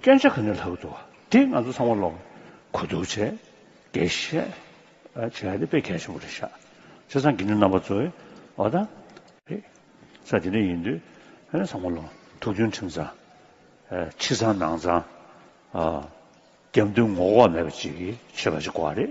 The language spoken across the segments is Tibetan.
སྐྱོན་ཆ་ག་ནས་ལྷག་འདུག་དེ་ང་ཚོ་ཚང་མ་ལོག་གོ་འདུག་བྱས་དགེ་བཤེས་བྱས་ཡ་དེ་དཔེ་གལ་ཆེན་པོ་རེད་ཤག་བྱས་ཙང་དགེ་འདུན་རྣམ་པ་ཚོ་འོ་ད་རེད་ས་དེ་འདྲ་ཡིན་དུས་ཧ་ནས་ཚང་མ་ལོག་ཐུགས་རྒྱུན་ཁྲིམས་ཚང་ཕྱི་ཚང་ནང་ཚང་རྒྱབ་མདུན་ངོ་ལྐོག་མེད་པ་ཅིག་གིས་ཆོས་པ་ཞིག་གོ་བ་རེད་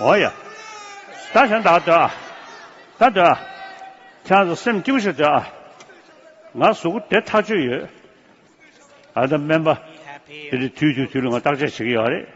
ཨོ་ཡ། ད་ཞང་དག་སྡོད་ཨ། ད་སྡོད་ཨ། ཁྱེད་རང་ཚོ་སེམས་སྐྱིད་པོ་ཞིག་སྡོད་ཨ། ང་གཟུགས་པོ་བདེ་ཐག་ཆོད་ཡོད། ཨ་ད་སྨན་པ། དེ་རིང་དུས་དུས་དུས་ལ་ང་བརྟག་དཔྱད་བྱེད་ཀྱི་ཡོད་ཨ་རེད།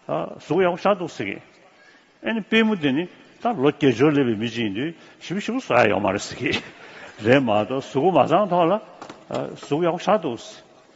ཨ། གཟུགས་ཡག་པོ་ཤར་འདུག་ཟེར་གི། ཨེ་ནི་དཔོན་མོ་དེ་ནི་ད་ལོ་བརྒྱད་ཅུར་སླེབས་པའི་མི་གཅིག་ཡིན་དུས་ཞིམ་པོ་ཞིམ་པོ་བཟོ་ཡ་ཡོད་མ་རེད་ཟེར་གི། རེད་མ་གཏོགས་གཟུགས་པོ་མ་བཟང་ཐོག་ལ། གཟུགས་ཡག་པོ་ཤར་འདུག།